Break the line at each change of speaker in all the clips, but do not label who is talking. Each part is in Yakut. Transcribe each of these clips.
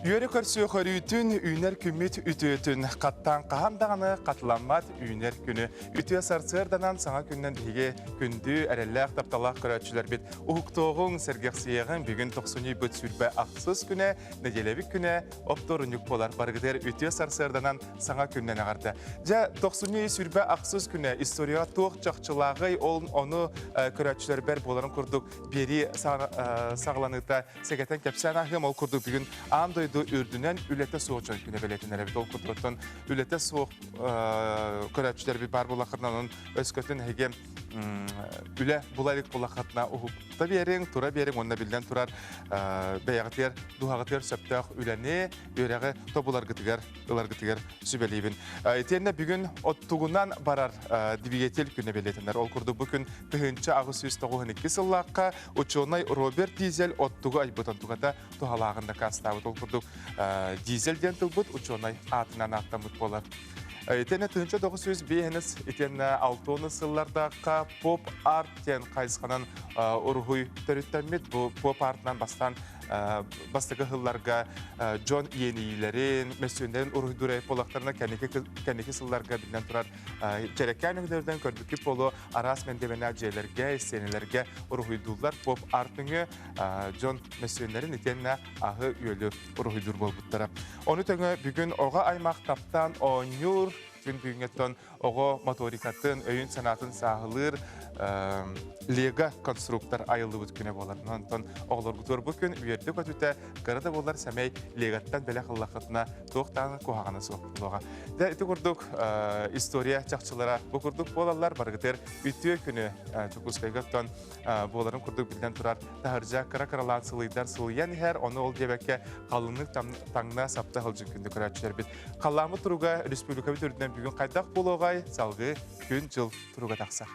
Үөрэ көрсүөх өрүүтүн, үүнэр күммүт үтүөтүн, хаттаан хаһан даҕаны хатыламмат үүнэр күнү үтүө сарсыарданан саҥа күннэн биһиги күндү эрэллээх тапталаах көрөөччүлэрбит уһуктуоҕуҥ, сэргэхсийэҕиҥ бүгүн тохсунньуйбут сүүрбэ ахсыс күнэ, нэдиэлэбит күнэ оптуорунньук буолар барыгытыгар үтүө сарсыарданан саҥа күннэн аҕарда дьэ тохсунньу сүрбэ-ахсыс күнэ историяҕа туох чахчылааҕый ол ону көрөөччүлэрбэр буоларын курдук биэрии саҕаланыыта сэгэтэн кэпсээн ааһыам ол курдук бүгүн аан дойду үрдүнэн үлэтэ суох дьон күнэ бэлиэтэнэр эбит ол курдуктан үлэтэ суох көрөөччүлэрбит баар буоллахтарына онон өскөтүн эһиги үлэ булар их булахатна уһукта биэриҥ тура биэриҥ уонна биллэн турар бэйэҕитигэр дуһаҕытыгар сөптөөх үлэни үөрэҕи тобуларгытыгар ыларгытыгар сүбэлиибин итиэннэ бүгүн оттугунан барар двигатель күнэ бэлиэтэнэр ол курдук бу күн тыһыынча аҕыс сүүс тоҕуһун икки сыллаахха учуонай роберт дизель оттугу айбыт онтугата туһалааҕын дакаастаабыт ол курдук дизель диэн тылбыт учуонай аатынан ааттаммыт буолар Итиэннэ тыһыынча тоҕус сүүс биэһинэс итиэннэ алта уон сыллардаахха поп-арт диэн хайысханан уруһуй төрүттэммит. Бу поп-артынан бастаан бастакы сылларга дьон иэниилэрин, мөссүөннэрин уруһуйдуур буолахтарына кэнники сылларга биллэн турар дьэрэкээн өҥөлөрүнэн көрбүккүт буолуо араас мэндиэмэнээх дьиэлэргэ, истиэнэлэргэ уруһуйдууллар поп-арт нөҥүө дьон мөссүөннэрин итиэннэ аһы-үөлү уруһуйдуур буолбуттара. Ону тэҥэ бүгүн оҕо аймах таптаан оонньуур күн бүгүҥҥэттэн оҕо моторикатын, өйүн-санаатын сааһылыыр Лего конструктор айыллыбыт күнэ буолар. Онтон оҕолоргутуор бу күн үөрдэ көтүтэ, кыра да буолар сэмэй Легаттан бэлэх ыллаххытына туох даҕаны куһаҕана суох буолуоҕа. Дэ ити курдук история чахчылара бу курдук буолаллар. Барыгытыгар үтүө күнү Дьокуускайга оттон буоларын курдук биллэн турар таһырдьа кыра-кыралаан сылыйдар сылыйан иһэр ону ол диэбэккэ халыҥнык таҥна сапта халдьын күндү көрөөччүлэрбит халлааммыт туруга республикабыт үрдүнэн бүгүн хайдах буолуоҕай салгыы күн-дьыл туруга тахсар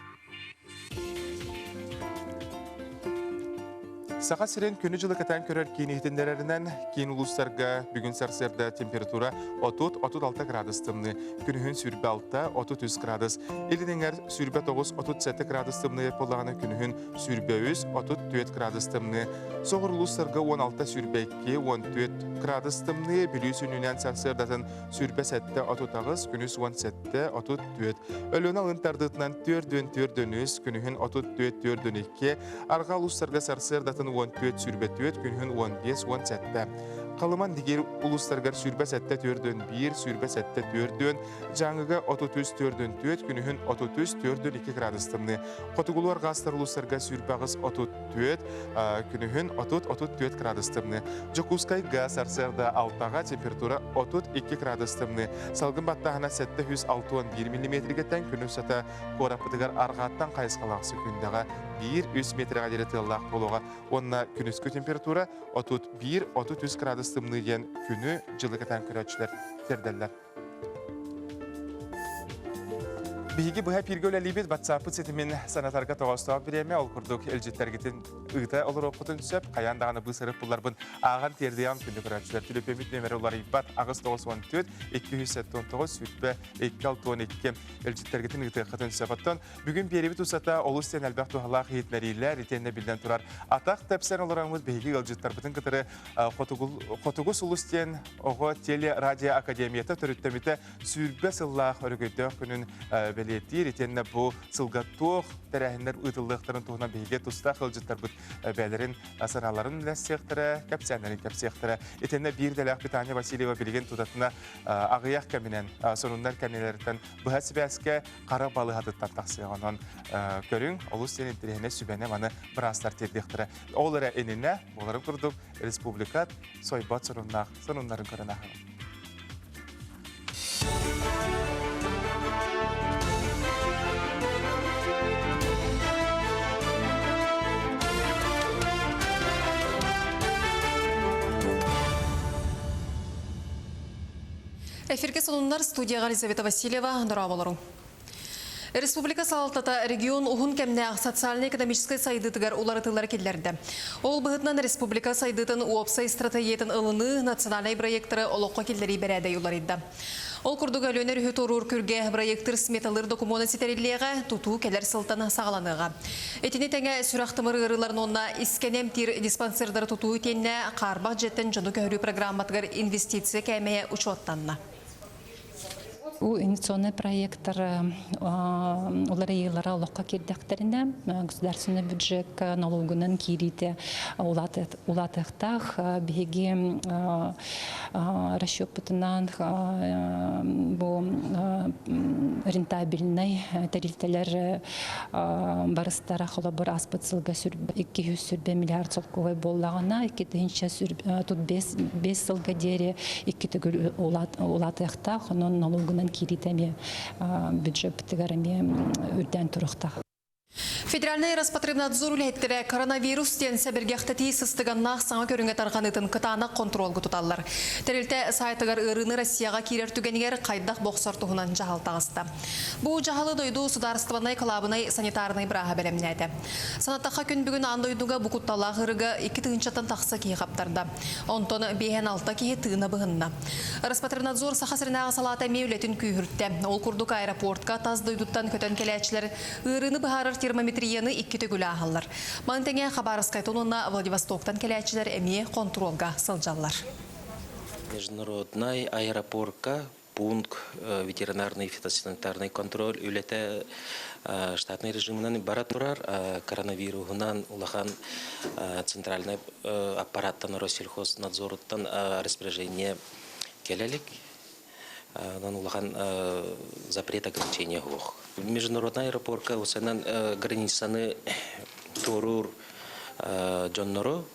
Саха сирин күнү-дьылы кытаан көрөр киин иһитиннэрэринэн киин улуустарга бүгүн сарсыарда температура отут-36 градус тымныы күнүһүн сүүрбэ алта отут үс градус Ил Эҥэр сүүрбэ тоҕус отут сэттэ градус тымныйар буоллаҕына күнүһүн сүүрбэ үс отут түөрт градус тымныы соҕур улуустарга уон алта сүүрбэ икки уон түөрт градус тымныы Бүлүү сүнньүнэн сарсыардатын сүүрбэ сэттэ отут аҕыс күнүс уон сэттэ отут түөрт Өлүөнэ алын тардыытынан түөрдүөн түөрдүөн үс күнүһүн отут түөрт түөрдүөн икки арҕаа улуустарга сарсыардатын уон түөрт сүүрбэ түөрт күнүһүн уон биэс уон сэттэ Халыман дигир улустарыгар сүүрбэ сэттэ түөрдүн биир, сүүрбэ сэттэ түөрдүн, Дьааҥыга отут үс түөрдүн түөрт, күнүһүн отут үс түөрдүн икки градустаныы. Хотугулуар гаастар улустарга сүүрбэҕис отут түөрт, күнүһүн отут отут түөрт градустаныы. Дьокуускай гаас арсыарда алтаҕа температура отут икки градустаныы. Салгын баттаһына сэттэ үс алты уон биир миллиметригиттэн күн устата куораппытыгар аргааттан хайысхалаах секундаҕа биир үс метрге диэри тыаллаах буолуоҕа уонна күнүскү температура отут биир отут үс кыраадыс тымныы диэн күнү-дьылы кэтээн көрөөччүлэр тиэрдэллэр. Биһиги быһа эфиргэ үлэлиибит WhatsApp ситимин санатарга тоҕоостоох бириэмэ ол курдук илдьиттэргитин ыыта олоруоххутун сөп. Хайаан даҕаны быысарык булларбын ааҕан тиэрдиэҕим күндү көрөөччүлэр телефиммит нөмөрө уларыйбат аҕыс тоҕус уон төрт икки үс сэттэ он тоҕус сүтпэ икки алты он икки илдьиттэргитин ыытыаххытын сөп. Оттон Бүгүн биэрэбит устата олус сен элбэх туһалаах иһитинэриилэр итиэннэ биллэн турар атах тэпсэн олороммут биһиги ыалдьыттарбытын кытары хотугу сулус диэн оҕо телерадиоакадемията төрүттэмитэ сүүрбэ сыллаах өрөгөйдөөх күнүн бэлиэтиир итиэннэ бу сылга туох тэрээһиннэр ыытыллыахтарын туһунан биһиги тустаах ыалдьыттарбыт бэйэлэрин санааларын үллэстиэхтэрэ кэпсээннэрин кэпсиэхтэрэ итиэннэ биир идэлээх Британия Васильева билигин тутатына аҕыйах кэминэн сонуннар кэмнэлэриттэн быһа сибээскэ хара балыһатыттан тахсыаҕа онон көрүҥ олус син интэриэһинэй сүбэни маны быраастар тиэрдиэхтэрэ ол эрэ иннинэ буоларын курдук республика сойбот сонуннаах сонуннарын көрөн аһаҕын
Эфиргэ сонуннар студияҕа Елизавета Васильева дорооболоруҥ. Республика салалтата регион уһун кэмнээх социальнай-экономическай сайдыытыгар уларытыылары киллэрдэ. Ол быһытынан республика сайдыытын уопсай стратегиятын ылыныы национальнай проекторы олоххо киллэрии бэрээдэги уларыйда. Ол курдук Өлүөнэр үһү туоруур күргэ проектыр сметалыыр докумуона ситэриллиэҕэ, тутуу кэлэр сылтан саҕаланыаҕа. Итини тэҥэ сүрэх-тымыр ыарыыларын уонна искэни эмтиир диспансердары тутуу итиэннэ Хаарбах дьиэттэн дьону көһөрүү программатыгар инвестиция кээмэйэ учуоттанна.
Бу инвестиционный проектор уларыйыылара олоххо киирдэхтэринэ государственный бюджет налогунан киириитэ улаатыа улаатыахтаах. Биһиги расчеппытынан бу рентабельнай тэрилтэлэр барыстара холобур аспыт сылга икки жүз сүрбэ миллиард солкуобай буоллаҕына икки тыһынча тут бес бес сылга диэри икки төгүл улаатыахтаах онон налогунан киириитэ эмиэ бюджетпытыгар эмиэ үрдээн туруохтаах Федеральнай
Роспотребнадзор үлэһиттэрэ коронавирус диэн сэбиргэхтэтии сыстыганнаах саҥа көрүҥэ тарҕаныытын кытаанах хонтуруолга туталлар. Тэрилтэ саайтыгар ыарыыны Россияҕа киирэр түгэнигэр хайдах бохсор туһунан дьаһал таҕыста. Бу дьаһалы дойду судаарыстыбаннай кылаабынай санитарнай бырааһа бэлэмнээтэ. Санаттахха, күн бүгүн аан дойдуга бу кутталаах ырыга икки тыһыынчаттан тахса киһи хаптарда. Онтон биэһин алта киһи тыына быһынна. Роспотребнадзор Саха сиринээҕи салаата эмиэ үлэтин күүһүртэ. Ол курдук аэропортка тас дойдуттан көтөн кэлээччилэр ыарыыны быһаарар термометрияны икки төгүл ааһаллар. Маны тэҥэ Хабаровскайтан уонна Владивостоктан кэлээччилэр эмиэ хонтуруолга сылдьаллар. Международнай
аэропорка пункт ветеринарный фитосанитарный контроль үлэтэ штатнай режиминэн бара турар коронавируһунан улахан центральнай аппараттан россельхознадзоруттан распоряжение келелик онон улахан запрет ограничения суох международнай аэропорка усанан границаны туоруур дьоннору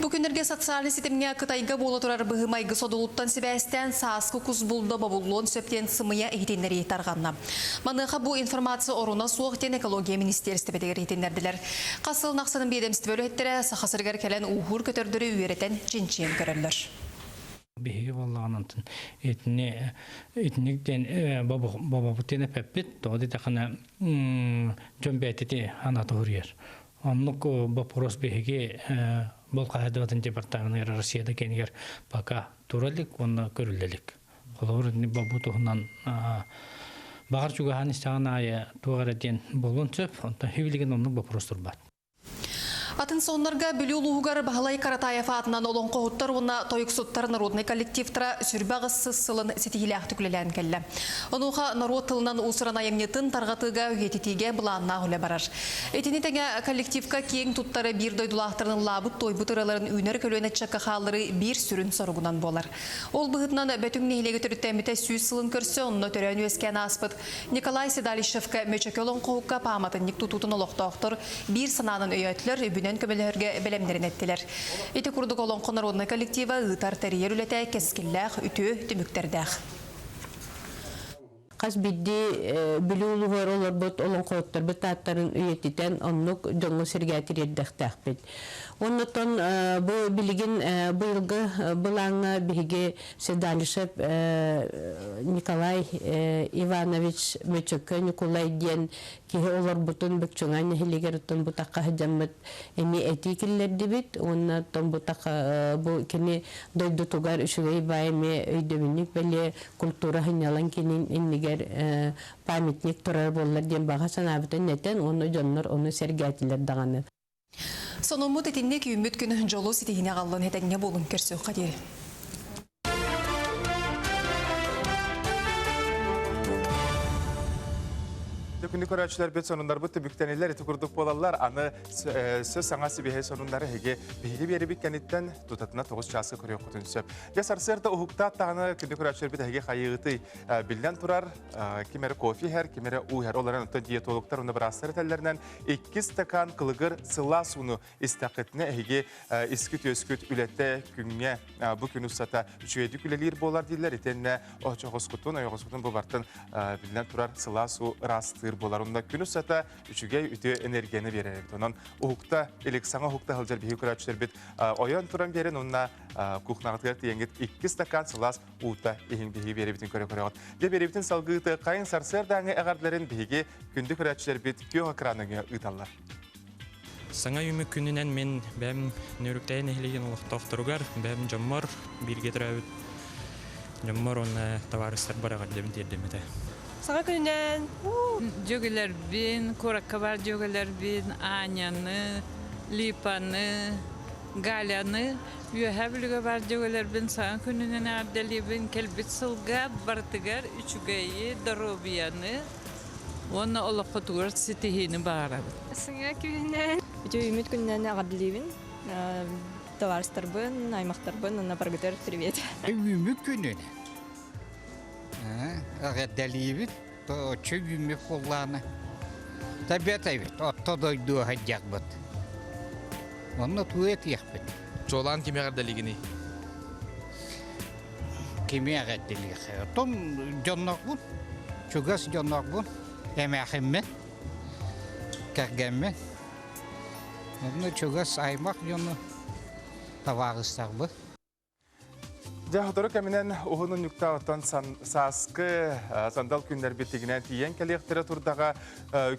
Бу
күннэргэ социальнай ситимҥэ Кытайга буола турар быһыы-майгы содулуттан сибээстээн сааскы кус булда бобуллуон сөп диэн сымыйа иһитиннэрии тарҕанна. Маныаха бу информация оруна суох диэн экология министиэристибэтигэр иһитиннэрдилэр. Хас сыл нахсанын биэдэмстибэ үлэһиттэрэ Саха сиригэр кэлэн ууһуур көтөрдөрү үөрэтэн, чинчийэн көрөллөр. Биһиги
буоллаҕын онтун итини итиник диэн бобобут диэн эппиппит тоҕо дитэххинэ дьон бэйэтити ана тоһуруйар Оннук боппуруос биһиги бұл хаһайдыбатын департаменыгар Россияда кенигер пока туралик уонна көрүллелик. Холобур, бобу туһунан бағар чугаһан истаҕан айы туғара диэн болун сөп, онтон хивилеген оннук боппуруос турбат.
Атын соннарга Бүлүү улууһугар Баһылай Каратаев аатынан олоҥхоһуттар уонна тойуксуттар народный коллективтара сүрбэх ыссыс сылын ситиһиилээхтик үлэлээн кэллэ. Онуоха норуот тылынан уусуран айымньытын тарҕатыыга үйэтитиигэ былааннаах үлэ барар. Итини тэҥэ коллективка киэҥ туттары биир дойдулаахтарын ыллаабыт-туойбут ыраларын үүнэр көлүөнэ чакка хаалары биир сүрүн соругунан буолар. Ол быһытынан Бөтүҥ нэһилиэгэ төрүттэммитэ сүүс сылын көрсө онно төрөөн-үөскээн ааспыт Николай Седалищевка Мөчөкө олоҥхоһукка пааматынньык тутуутун олохтоохтор биир санаанан өйөөтүлэр, үбүнэн көмөлөһөргө бэлэмнэрин эттилэр. Ити курдук олоҥхо народнай коллектива ыытар, тэрийэр үлэтэ кэскиллээх, үтүө түмүктэрдээх.
Хас биирдии Бүлүү улууһугар олорбут олоҥхоһуттарбыт тааттарын үйэтитэн, оннук дьоҥҥо-сэргэ тириэрдэхтээхпит. Оннуттан бу билигин быйылгы былааҥҥа биһиги Седалишев Николай Иванович Мөчөкө Ньукулай диэн киһи олорбутун Быччыҥа нэһилигэр томбутахха сыдьаммыт эми этии киллэрдибит уонна томбутахха бу кини дойдутугар үчүгэй бай эмиэ өйдөбүнньүк бэлиэ культура сынньалаҥ кинин иннигэр памятник турар буоллар диэн баҕа санаабытын этэн уонна дьоннор ону сэргээтилэр даҕаны Сонуммут
итинник үүммүт күн дьолу ситиһиини аҕаллын этэҥҥэ буолун көрсүөххэ диэри.
Күнү көрөөччүлэрбит сонуннарбыт түбүктэнилэр ити курдук буолаллар. Аны сөс саҥа сибиһэй сонуннары эһиги биһиги биэрибит кэнниттэн тутатына тоҕус чааска көрүөххүтүн сөп. Дьэ сарсыарда уһуктаат даҕаны күнү көрөөччүлэрбит эһиги хайыытый. Биллэн турар, ким эрэ кофе иһэр, ким эрэ уу иһэр. Олорон диетологтар уонна быраастар этэллэринэн иккис стакан кылыгыр сылаас ууну истэххитинэ эһиги искит-үөскүт үлэтэ күҥҥэ бу күн устата үчүгэйдик үлэлиир буолар дииллэр итиэннэ очоҕоскутун ойоҕоскутун бу бартан биллэн турар сылаас уу ыраастыыр буолар онно күн устата үчүгэй үтүө энергияны биэрэр эбит онон уһукта илик саҥа уһукта сылдьар биһиги көрөөччүлэрбит ойон туран биэрин уонна кухнаҕытыгар тиийэҥҥит икки стакан сылаас уута иһин биһиги биэрэбитин көрө-көрөҕүт. Дьэ биэрэбитин салгыыты хайын сарсыардааҥы эҕэрдэлэрин биһиги күндү көрөөччүлэрбит күөх экраныҥа ыыталлар.
Саҥа үмүк күнүнэн мин бэм Нөрүктэйи нэһилигин олохтоохторугар, бэм дьоммор бииргэ төрөөбүт дьоммор уонна табаарыстарбар эҕэрдэбин тиэрдэммитэ. Саҥа
күнүнэн
дьөгүлэрбин, куоракка бар дьөгүлэрбин Аняны, Липаны, Галяны Үөһээ Бүлүгэ баар дьүөгэлэрбин саҥа күнүнэн эҕэрдэлиибин кэлбит сылга барытыгар үчүгэйи, доруобуйаны уонна олоххутугар ситиһиини баҕарабын. Сыҥа күнүнэн.
Үтүөмүт күнүнэн эҕэрдэлиибин товарыстарбын, аймахтарбын уонна баргытар привет. Үҥүүмү күнүнэн
эҕэрдэлиибин. оччо үүммүт буоллаҕына табиата эбит орто дойду сылдьарбыт онно тугу этиэхпит чуолаан кими
эҕэрдэлиигиний
кими эҕэрдэлиэххэ отом дьоннорбун чугас дьоннорбун эмээхиммин кэргэммин онно чугас аймах дьону табаарыстарбын
Дьэ, сотору кэминэн уһун унньуктаҕыттан сааскы сандал күннэрбит тигинэн тиийэн кэлиэхтэрэ турдаҕа.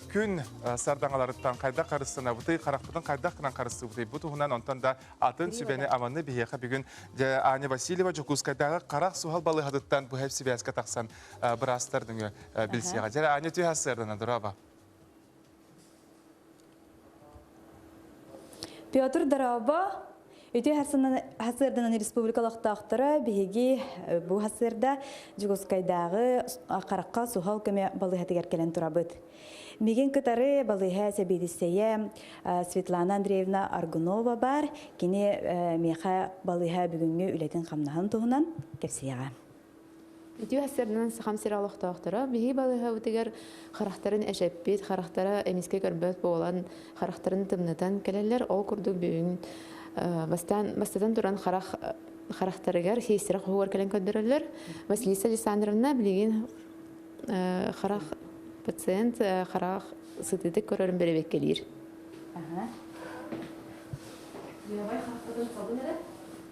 Күн сардаҥаларыттан хайдах харыстанабытый, харахпытын хайдах гынан харыстыыбытый бу туһунан онтон да атын сүбэни аманы биһиэхэ бүгүн Аня Васильева Дьокуускайдааҕы харах суһал балыыһатыттан быһа сибээскэ тахсан быраастар нөҥүө билсиэҕэ. Дьэ, Аня, түһэ сырдана дороба.
Петр Дараба Үтүө хасыарданан республика олохтоохторо биһиги э, бу хасыарда Дьугускайдааҕы харахха суһал көмө балыыһатыгар кэлэн турабыт. Мигин кытары балыыһа сэбиэдиссэйэ э, Светлана Андреевна Аргунова бар. Кини э, меха балыыһа бүгүҥҥү үлэтин хамнаһын туһунан кэпсиэҕэ.
Итүү хасырнын сахам сир олохтоохторо биһи балыһабытыгар харахтарын эшеппит, харахтара эмискэ көрбөт буолан, харахтарын тымнытан кэлэллэр. Ол курдук бүгүн бастан бастатан туран харах харахтарыгар хиистирэ хоһугар кэлэн көрдөрөллөр. Василиса Александровна билигин харах пациент харах сытытык көрөрүн беребеккелиир.
Левай хаппытын хабын эрэ.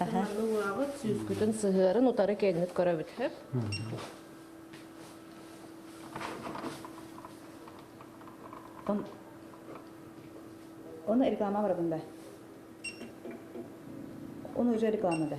Манна улаабыт сүүскүтүн сыһыарын утары кэннит көрөбүт хөп. Там
оны реклама барабын да. Оны уже реклама да.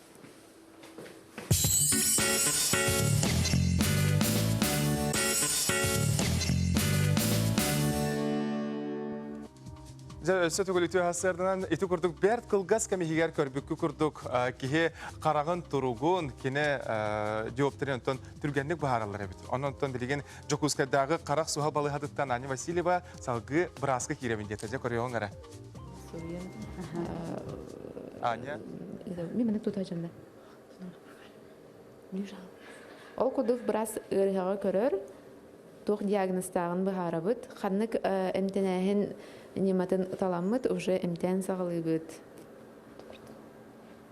Дьэ, өссө түгүл үтүө хастарынан ити курдук бэрт кылгас кэмиһигэр көрбүккү курдук киһи хараҕын туругун, кини диоптрин онтон түргэнник быһаараллар эбит. Онон онтон билигин Дьокуускайдааҕы харах суһал балыһатыттан Аня Васильева салгыы бырааска киирэбин диэтэ. Дьэ, көрүөҕүҥ эрэ. суруйан Аня мин маны
тута жонна ол кудук брас ыарыһаҕа көрөр туох диагнозтааҕын быһаарабыт ханнык эмтэнээһин ньыматын таламмыт уже эмтээн саҕалыыбыт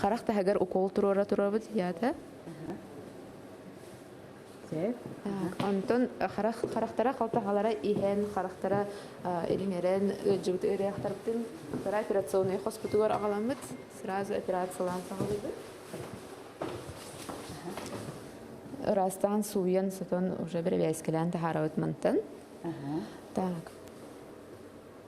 Харах таһыгар укол туруора туруорабыт дията. Онтон харах харахтара халтагалара иһэн харахтара ириҥэрэн ыалдьыбыт ыарыахтарбытын вторая операционная хоспутугар аҕаламмыт сразу операциялаан саҕалыыбыт ыраастаан сууйан сотон уже бэрэбээскэлээн таһаарабыт мантан так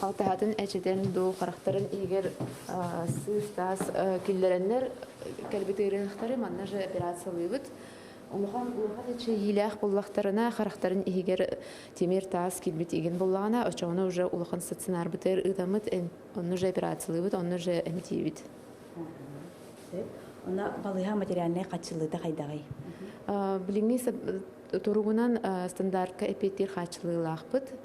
алтаһатын эчэтэн дуу харахтарын иһигэр сыыс-таас киллэрэннэр кэлбит ыарыһахтары манна же операциялыыбыт Омохон улахан эчэйиилээх буллахтарына харахтарын иһигэр тимир таас килбит игин буллаҕына очоҕуна уже улахан стационарбытыр ыытаммыт онну же операциялыыбыт онну же эмтиибит
Она балыга материальная хачылыыта хайдаҕый? Билиҥҥи
туругунан стандартка эпиэттиир хаачылыылаахпыт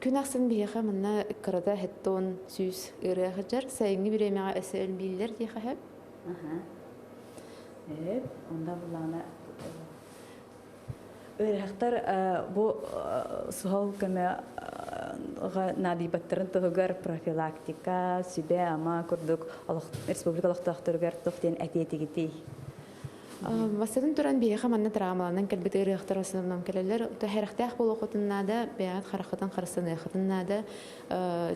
Күн ахсын
биһиэхэ манна кырата хэттон сүүс ырыа хажар сайыҥҥы бириэмэҕэ эсэ элбииллэр диэхэ сөп. Эп,
онда буллаана Өрәхтар бу сухал көмөҕө наадыйбаттарын туһугар профилактика, сүбэ-ама курдук республика олохтоохторугар тух диэн этиэтигитий?
Бастатан туран, биһиэхэ манна травмаланан кэлбит ырыахтар астынан кэлэлэр. Тахарахтаах буолуоххутун наада, бэйэҕит хараххытын харыстаныаххытын наада.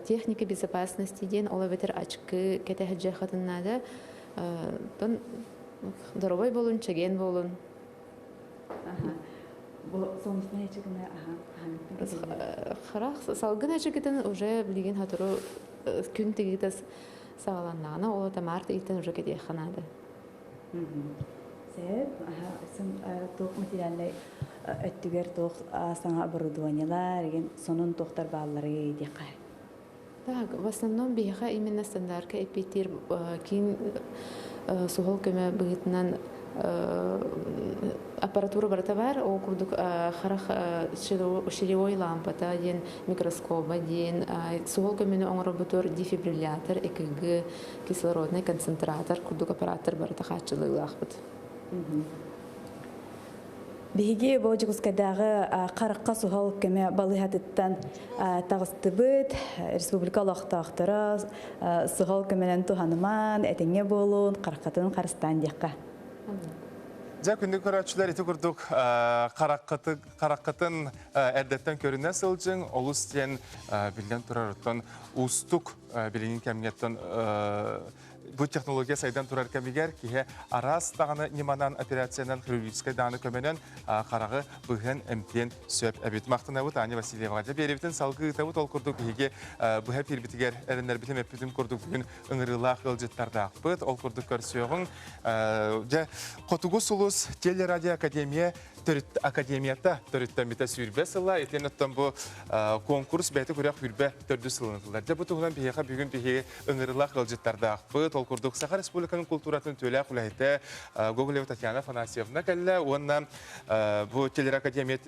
Техника безопасности диэн ол эбэтэр очки кэтэһэ дьыаххытын наада. Оттон доробой болун, чэгиэн болун.
Харах
салгын очкитин уже билигин хатору күн тигитас сааланнаана, ол тамаар тигитен уже кэтиэххэ наада.
туох материальнай өттүгэр туох саҥа оборудованиелар игин сонун туохтар баалларый диэххэ так
в основном биһиэхэ именно стандартка эпитир киин суһал көмө быһытынан аппаратура барыта бар ол курдук харах ширевой лампата диэн микроскоба диэн суһал көмөнү оҥорбутур дефибриллятор экг кислороднай концентратор курдук аппарааттар барыта хааччылыылаахпыт.
Биһиги бу Дьокуускайдааҕы харахха суһал көмө балыһатыттан таҕыстыбыт республика олохтоохторо суһал көмөнөн туһаныман этиҥҥэ буолуун хараххытын харыстаан диэххэ.
Дьэ күндү көрөөччүлэр ити курдук хараххытын эрдэттэн көрүнэ сылдьыҥ олус диэн биллэн турар оттон уустук билиҥҥи кэмҥэттэн бу технология сайдан турар кэмигэр киһи араас даҕаны ньыманан операциянан хирургическай дааны көмөнөн хараҕы быһан эмтиэн сөп эбит махтанабыт аня васильева дьэбиэбитин салгыы ыытабыт ол курдук биһиги быһа пирбитигэр эрэннэрбитин эппитин курдук бүгүн ыҥырыылаах ыалдьыттардаахпыт ол курдук көрсүөҕүҥ дьэ хотугу сулус телерадиоакадемия төрүт академията төрүттэммитэ сүүрбэ сыла итиэн оттон бу конкурс бэйэтэ күрэх сүүрбэ төрдүс сылын ылынар дьэ бу туһунан биһиэхэ бүгүн биһиги ыҥырылаах ыалдьыттардаахпыт ол курдук саха республиканың култууратын түөлээх үлэһитэ гоголева татьяна афанасьевна кэллэ уонна бу телеакадемия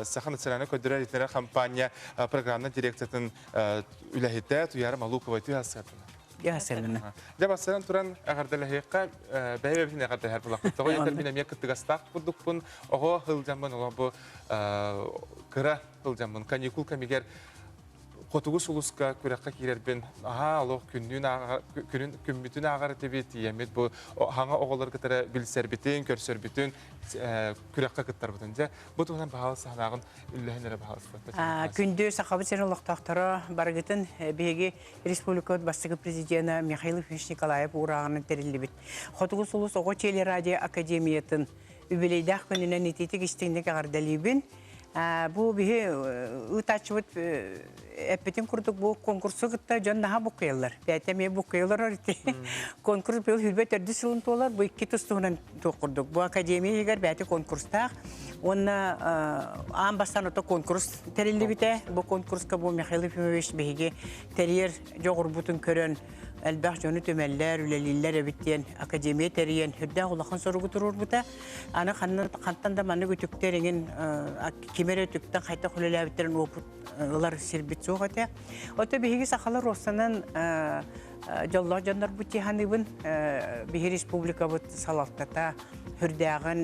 саха национальнай көрдөрөр итиннэр компания програмна дирекциятын үлэһитэ туяра малукова тыас
Дьэ бассаабын туран
эҕэрдэлэһиэххэ бэйэбитин эҕэрдэлэһэр булахпыт. Тоҕо диэтэр мин эмиэ кыттыгастаах курдукпун. Оҕо сылдьаммын оҕо бу кыра сылдьаммын каникул кэмигэр Хотугу сулуска күрэххэ киирэрбин аһаа олох күннүүн ааҕар күнүн күммүтүн ааҕар этибит тиийэммит бу хаҥа оҕолору кытары билсэрбитин көрсөрбүтүн күрэххэ кыттарбытын дьэ бу туһунан баһаалыс санааҕын үллэһэн эрэ баһаалыспыт күндү сахабыт сир
олохтоохторо барыгытын биһиги республикабыт бастакы президенэ Михаил Ильич Николаев уурааҕынан тэриллибит Хотугу сулус оҕо телерадио академиятын үбүлүөйдээх күнүнэн ититик истиҥник эҕэрдэлиибин бу биһи ыытааччыбыт эппитин курдук бу конкурсу кытта дьон наһаа буккуйаллар бээтэ эмиэ буккуйалар ити конкурс быйыл сүүрбэ төрдүс сылын туолар бу икки тус туһунан туох курдук бу академия иһигэр бэйэтэ конкурстаах уонна аан бастаан ото конкурс тэриллибитэ бу конкурска бу михаил ефимович биһиги тэрийэр дьоҕурбутун көрөн элбэх дьону түмэллэр үлэлииллэр эбит диэн академия тэрийэн үрдээх улахан соругу туруорбута аны хантан да маннык үтүктэр эҥин ким эрэ үтүктэн хайдах үлэлээбиттэрин уопут ылар сирбит суох этэ ото биһиги сахалар уоссанан дьоллоох дьоннорбут тиһаныыбын биһи республикабыт салалтата үрдээҕин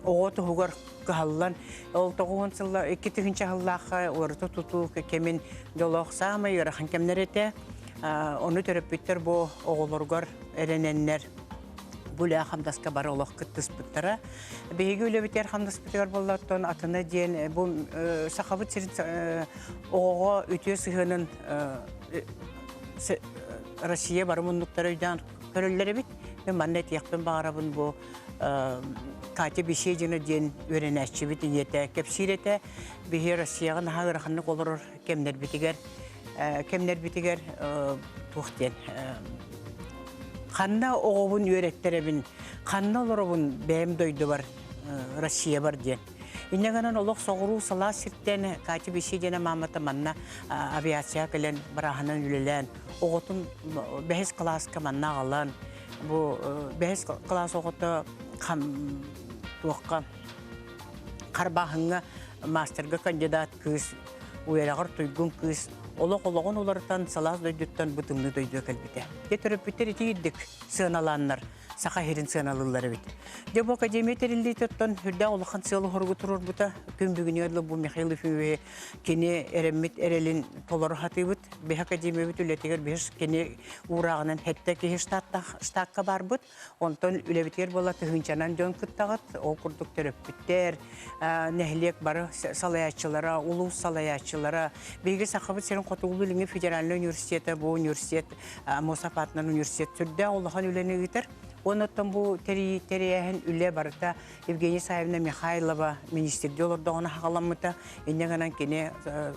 оҕо туһугар кыһаллан ол тоҕуһун сылла икки тыһынча сыллаахха уоруту тутуу кэмин дьолоох саамай ыарахан кэмнэр этэ ону төрөппүттэр бу оҕолоругар эрэнэннэр гуля хамдаска бары олох кыттыспыттара биһиги үлэбитигэр хамдаспытыгар болла оттон атына диэн бу сахабыт сирин оҕоҕо үтүө сыһыанын Россия бары муннуктары өйдөөн көрөллөр эбит. Мен манна этиэхпин баҕарабын бу Катя Беседина диэн үөрэнээччибит ийэтэ кэпсиир этэ. Биһи Россияҕа наһаа ыараханнык олорор кэмнэрбитигэр кэмнэрбитигэр туох диэн ханна оҕобун үөрэттэрэбин, ханна олоробун бэйэм дойдубар Россия бар диэн. Иннэ гынан олох соҕуруу салаас сиртэн Катя Бесидина мамата манна авиацияга кэлэн барааһынан үлэлээн оҕотун бэһис кылааска манна аҕалан бу бэһис кылаас оҕото хам туохха харбааһыҥҥа маастарга кандидат кыыс уйараҕар туйгун кыыс олох олоҕун уларытан салаас дойдуттан бытымныы дойдуга кэлбитэ. Дьэ төрөппүттэр ити ирдик сыаналааннар Саха сирин сыаналыллар эбит. Дьэ бу академия тэриллиит оттон үрдээх улахан сыал оһоргу турорбута күн бүгүнү ылла бу Михаил Ефимови кини эрэммит эрэлин толору хатыыбыт. Бэһ академиябыт үлэтигэр бир кини уурааҕынан хэтте киһи штаттах штатка барбыт. Онтон үлэбитигэр бола тыһынчанан дьон кыттаҕыт. Ол курдук төрөппүттэр, нэһилиэк бары салаячылара, улуус салаячылара, биһиги Сахабыт сирин хотугулуу федеральный университета бу университет Мосапатынан университет сүрдээх улахан үлэни ыытар. Уонна оттон бу тэрийээһин үлэ барыта Евгения Саевна Михайлова министрдии олордоҕуна хаҕаламмыта. Иннэ гынан кини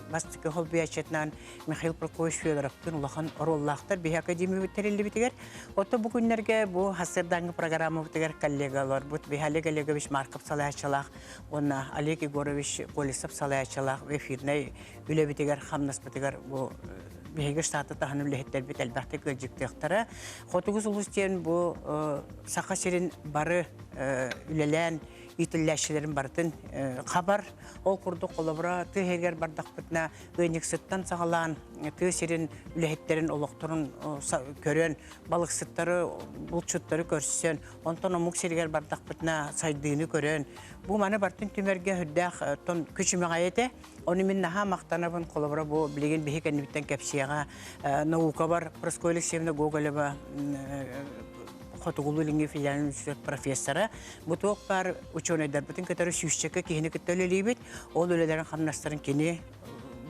бастакы хоббиячетынан Михаил Прокоевич Федоровтыын улахан оруоллаахтар биһи академиябыт тэриллибитигэр. Оттон бу күннэргэ бу Хассырдаанга программабытыгар коллегаларбыт биһи Олег Олегович Марков салайааччылаах уонна Олег Егорович Колесов салайааччылаах эфирнэй үлэбитигэр-хамнаспытыгар бу биһиги штаты таһын үлэһиттэрбит элбэхтик ыалдьыттыахтара. Хотугу сулус диэн бу Саха сирин бары үлэлээн итиллээччилэрин барытын хабар. Ол курдук холобура тыа иһигэр бардахпытына ыанньыксыттан саҕалаан тыа сирин үлэһиттерин олохторун көрөн, балыксыттары, булчуттары көрсөн, онтон омук сиригэр бардахпытына сайдыыны көрөн, бу маны бартын түмэргэ үрдээх тон күчүмэҕэй этэ. Ону мин наһаа махтанабын, холобура бу билигин биһи кэннибиттэн кэпсиэҕэ наукабар Проское Алексеевна Гоголева хотугулуу илиҥҥи филиалын институт профессора. Бу туох баар учуонайдарбытын кытары сүүсчэкэ киһини кытта үлэлиибит. Ол үлэлэрин-хамнастарын кини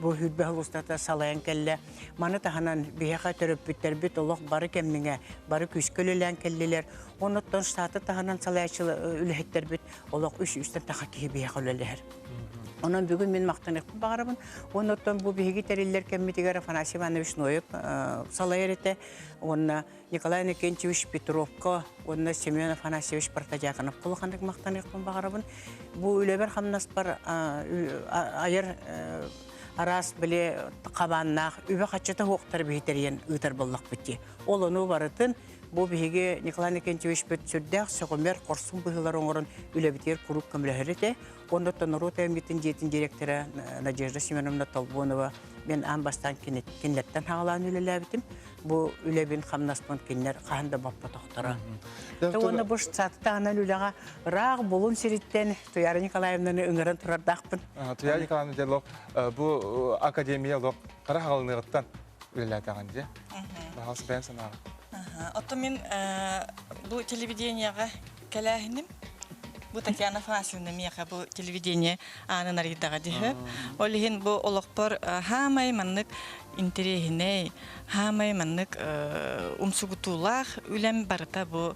бу хүрбэ устата салайан кэллэ. Маны таһынан биһиэхэ төрөппүттэрбит олох бары кэмниҥэ бары күүскэ үлэлээн кэллилэр. Онуттан штаты таһынан салайааччы э, үлэһиттэрбит олох үс үстэн таха киһи биһиэхэ үлэлэһэр. Онон бүгүн мин махтаныахпын баҕарабын. Уонна оттон бу биһиги тэриллэр кэммитигэр Афанасий Иванович Ноев салайар этэ. Уонна Николай Иннокентьевич Петровка уонна Семен Афанасьевич Протодьяконов улаханнык махтаныахпын баҕарабын. Бу үлэбэр хамнаспар айар араас били хабааннаах үбэ-хаччыта уохтар биһитэрийэн ыытар боллохпут дии. Ол ону барытын Бу биһиги Николай Никентьевич бүт сүрдээх сөҕүмэр, хорсун быһыылары оҥорон үлэбитигэр куруук көмөлөһөр этэ. Оннуттан норуот аймитин дьиэтин директора Надежда Семеновна Толбонова мен аан бастаан кинилэртэн хаалаан үлэлээбитим. Бу үлэбин хамнаспын кинилэр хаһан да боппотохторо. Уонна бу сатытаанан үлэҕэ ыраах булун сириттэн Туяра Николаевнаны ыҥыран турардаахпын. Туяра Николаевна дьэ
лох бу академия лох хара хаалыныгыттан үлэлээтэҕин дии. Баҕас бэйэм санаабын. Оттон мин
бу телевидениеҕа кэлээһиним бу Татьяна Афанасьевна миэхэ бу телевидение аанын арыйдаҕа диһэ. Ол иһин бу олохпор хаамай маннык интэриэһинэй, хаамай маннык умсугутуулаах үлэм барыта бу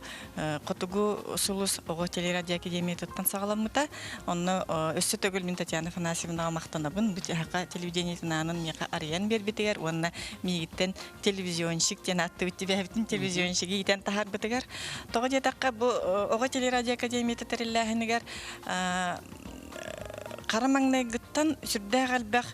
Хотугу сулус оҕо телерадиоакадемиятыттан саҕаламмыта. Онно өссө төгүл мин Татьяна Афанасьевнаҕа махтанабын. Бычаһака телевидениетин аанын миэхэ арыйан биэрбитигэр уонна миигиттэн телевизионщик диэн ааттыыбыт түбэһэбитин телевизионщиги иитэн таһаарбытыгар. Тоҕо диэтэххэ бу оҕо телерадиоакадемията тэриллээһинигэр хара маҥнайгыттан сүрдээх элбэх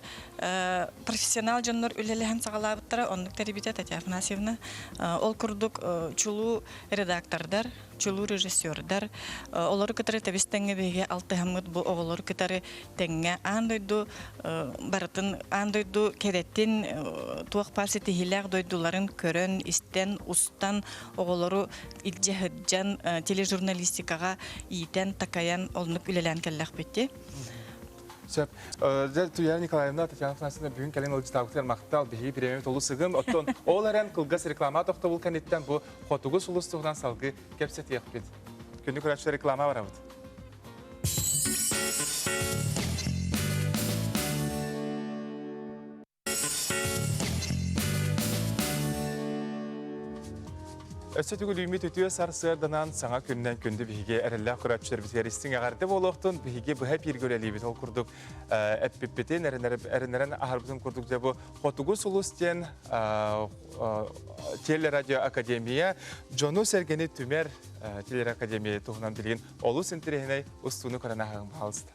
профессионал дьоннор үлэлэһэн саҕалаабыттара оннук тэрибитэ Татьяна Афанасьевна ол курдук чулуу редактордар, чулуу режиссердар олору кытары тэбис-тэҥҥэ биһиги алтыһаммыт бу оҕолору кытары тэҥҥэ аан дойду барытын аан дойду кэрэтин туох баар ситиһиилээх дойдуларын көрөн, истэн, устан оҕолору илдьэ сылдьан тележурналистикаҕа иитэн, такайан оннук үлэлээн кэллэхпит дии. Сөп.
Туяна Николаевна, Татьяна Афанасьевна бүгүн кэлин ылдьытаабытыгар махтал. Биһиги бириэмэбит олус сыгын. Оттон ол эрэн кылгас реклама тохтобул кэнниттэн бу хотугу сулус туһунан салгыы кэпсэтиэхпит. Күнү көрөөччүлэр реклама барабыт. Өссө түгүл үүммүт үтүө сарсыарданан саҥа күннэн күндү биһиги эрэллээх көрөөччүлэрбитигэр истиҥ эҕэрдэ буолуохтун. Биһиги быһа бииргэ үлэлиибит ол курдук эппиппитин, эрэнэрэн аһарбытын курдук дьэ бу Хотугу сулус диэн телерадиоакадемия дьону-сэргэни түмэр телеакадемия туһунан билигин олус интэриэһинэй устууну көрөн аһаҕын хаалыста.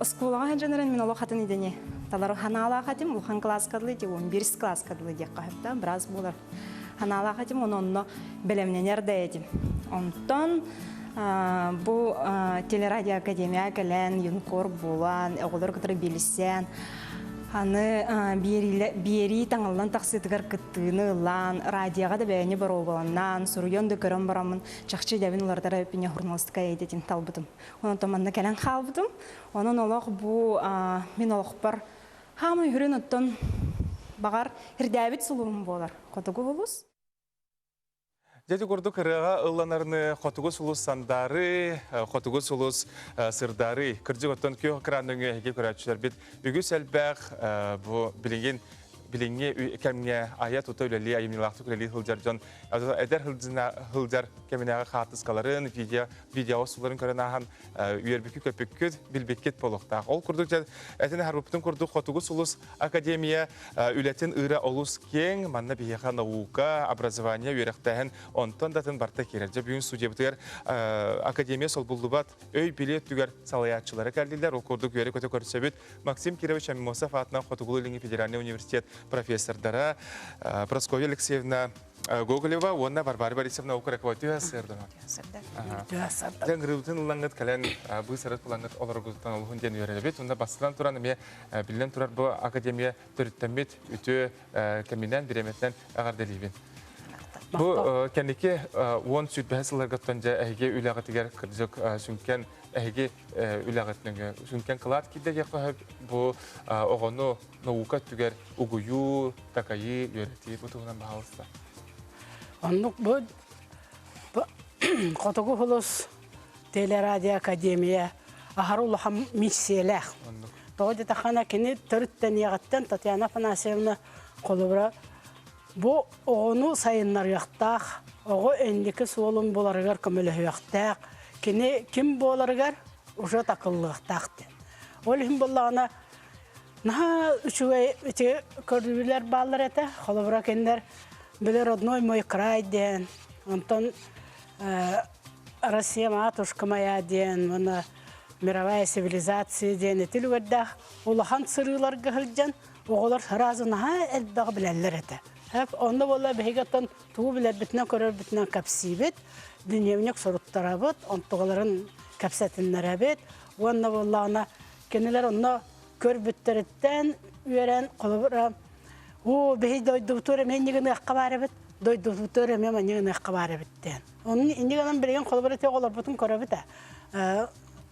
Оскуолаҕа сылдьан эрэн мин олох атын идэни талар ханаалаах этим улахан кылааска дылы ити он бирис кылааска дылы диэххэ сөп да быраас буолар ханаалаах этим ону онно бэлэмнэнэр да этим онтон бу телерадиоакадемияҕа кэлэн юнкор буолан оҕолор кытары билсэн аны биэрии таҥаллан тахсыытыгар кыттыыны ылан радиоҕа да бэйэни боруобаланнаан суруйан да көрөн бараммын чахчы идэбин уларытара үппүнэ хурналыстыка эйдэтин талбытым Онтон манна кэлэн хаалбытым. Онон олох бу мин олохпор хаамый үрүн оттон баҕар ирдээбит сулуум буолар хотугу улус.
Дядя курдук ырыаҕа ылланарны хотугу сулус сандаары, хотугу сулус сырдаары. Кырдьык оттон күөх экран өҥөһүге көрөөччүлэрбит үгүс элбэх бу билигин билиҥҥи кэмҥэ айа тута үлэлии, айымньылаахтык үлэлии сылдьар дьон эдэр сылдьар кэминээҕи хаартыскаларын, видео видео устууларын көрөн ааһан үөрбүккүт-көппүккүт билбиккит буолуохтаах ол курдук дьэ этин аһарбыппытын курдук хотугус улус академия үлэтин ыыра олус кең манна биһиэхэ наука образование үөрэхтээһин онтон датын барта киирэр дьэ бүгүн студиябытыгар академия солбуллубат өй билиэ өттүгэр салайааччылары кэлдилэр ол курдук үөрэ көтө көрсөбүт Максим Кирович Амимосов аатынан Хотугулу федеральный университет профессордара Прасковья Алексеевна Гоголева уонна Варвара Борисовна укракова түһэ сырдана. Түһэ сырдан. Грыбытын ыллаңгыт кэлэн бу сырыт булаңгыт олоргутан олуһун диэн үөрөбүт. Онда бастан туран эмиэ биллэн турар бу академия төрүттэммит үтүө кэминэн, бириэмэтинэн эҕэрдэлиибин. Бу кэнники уон сүрбэһэ сылларгыттан дьэ эһиги үлэҕитигэр кырдьык сүҥкэн эһиги үлэҕитинге сүҥкэн кылаат киирдэгиэххэ бу оҕону наука өттүгэр угуйуу, такайыы, үөрэтии бу туһунан баһалыста.
Оннук бу Хотугу Хулус телерадиоакадемия ахар улахан миссиялаах. Тоҕо дэтахана кини төрүттэниэҕиттэн Татьяна Афанасьевна холобура бу оҕону сайыннарыахтаах, оҕо инники суолун буларыгар көмөлөһүөхтээх, кини ким буоларыгар уже такыллыахтаах диэн. Ол иһин боллаҕына Наха үчүгэй эти көрдүлэр бааллар этэ. Холобура кинилэр били родной мой край диэн, онтон Россия матушка моя диэн, уонна мировая цивилизация диэн эти үлүгэрдээх улахан сырыыларга сылдьан оҕолор сразу наһаа элбэҕи билэллэр этэ. Онно буола биһиги оттон тугу билэрбитинэн көрөрбүтүнэн кэпсиибит, дневник суруттарабыт, онтугаларын кэпсэтиннэрэбит. Уонна буоллаҕына Кинилэр онно көрбүттэриттэн үөрэн, холобура, уу, биһи дойдубутугар эмиэ инньэ гыныахха баар эбит, дойдубутугар эмиэ манньа гыныахха баар эбит диэн. Onun инньэ гынан билигин холобура тек олорбутун көрөбүт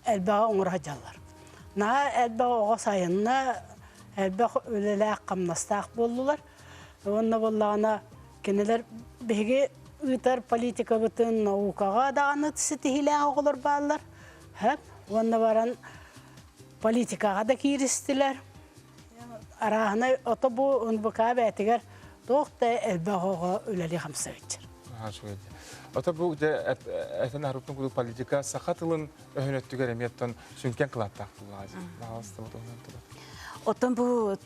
элбэҕи оҥоро сылдьаллар. Наһаа элбэх оҕо сайынна, элбэх үлэлээх, хамнастаах буоллулар. Уонна буоллаҕына кинилэр биһиги ыытар политикабытын наукаҕа даҕаны ситиһиилээх оҕолор бааллар. Сөп уонна баран политикаҕа да кииристилэр. Арааһынай ото бу НБК бээтигэр туох да элбэх оҕо үлэлии хамсааччыр.
Ото бу этен аһарыппын кудук политика саха тылын өһүнөттүгэр эмиэттон сүнкэн кылааттаах тулаазы. Оттон бу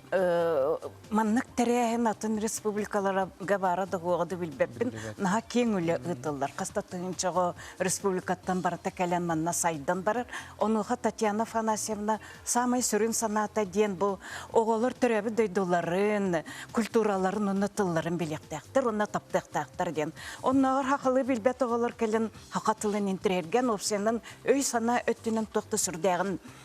Маннык тэрээһин атын республикаларга баара да буоҕа да билбэппин. Наһаа киэҥ үлэ ыытыллар. Хаста тыһынчаҕа республикаттан барыта кэлэн манна сайдан барар. Онуоха Татьяна Афанасьевна «Саамай сүрүн санаата» диэн бу оҕолор төрөөбүт дойдуларын, культураларын уонна тылларын билиэхтээхтэр уонна таптыахтаахтар диэн. Оннооҕор хахылыы билбэт оҕолор кэлэн хаха тылын интириэргэн, уопсайынан өй-санаа өттүнэн туох да сүрдээҕин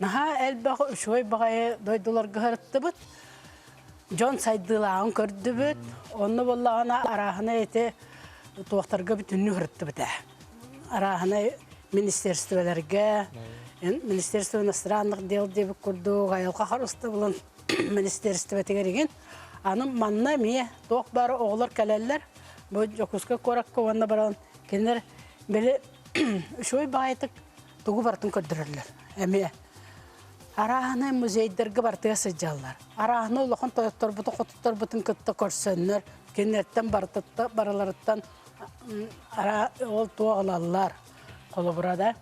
Наһаа элбэх үчүгэй баҕайы дойдуларга сырыттыбыт. Дьон сайдыылааҕын көрдүбүт. Онно буоллаҕына арааһынай ити туохтарга бүтүннүү сырыттыбыт ээ. Арааһынай министерстволарга, Министерство иностранных дел диэбит курдук, айылҕа харыстабылын министерствотыгар игин. Аны манна эмиэ туох бары оҕолор кэлэллэр. Бу Дьокуускай куоракка уонна баран кинилэр били үчүгэй баҕайытык тугу барытын көрдөрөллөр эмиэ арааһаны музейдарга бартыга сылдьаллар арааһаны улахан тойотторбутун хотутторбутун кытта көрсөннөр кинилэртэн барыларыттан ол туох ылаллар холобура да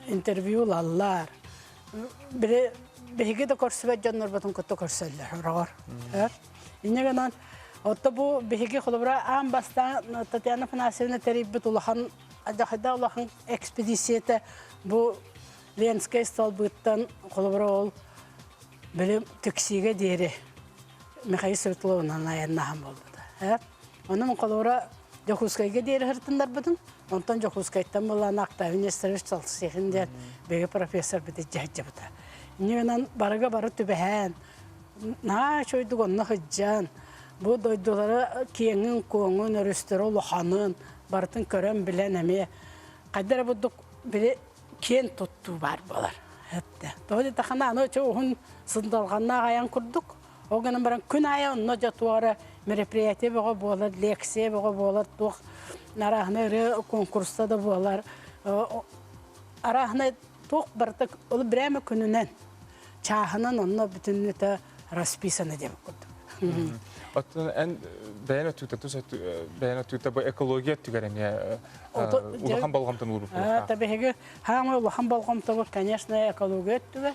интервью ылаллар били биһиги да көрсүбэт дьоннорбутун кытта көрсөллөр ороҕор. Инньэ гынан отто бу биһиги холобура аан бастаан Татьяна Афанасьевна тэрийбит улахан адьахайда улахан экспедициятэ бу Ленскэй столбыттан холобура ол били Тексиге диэри Михаил Светловынан айаннаһан буолбута. Онон холура Дьокуускайга диэри сырытыннарбытым. Онтон Дьокуускайтан булан Актаевин Несторович Салсехин диэн биһиги профессорбыт дьаһайдьыбыта. Ньыынан барыга бары түбэһэн, наһаа үчүгэйдик онно сылдьан, бу дойдулары киэҥин-куоҥун, өрүстэрэ улаханын барытын көрөн-билэн эмиэ хайда эрэ бурдук били киэн туттуу баар буолар. Тоҕо диэтаххына аны чэ уһун сындалҕаннаах айан курдук Ол гынан баран күн аайы онно дьэ туох эрэ мероприятие бөҕө буолар, лекция бөҕө буолар, туох арааһынай ырыа конкурса да буолар. Арааһынай туох барыта ол брэме күнүнэн, чааһынан онно бүтүннүтэ расписано диэн курдук. Оттон эн
бэйэн өттүктэ тус бэйэн өттүктэ бу экология өттүгэр эмиэ улахан болҕомтону уурбуппут. Та биһиги
хаамай улахан болҕомтобут, конечно, экология өттүгэр.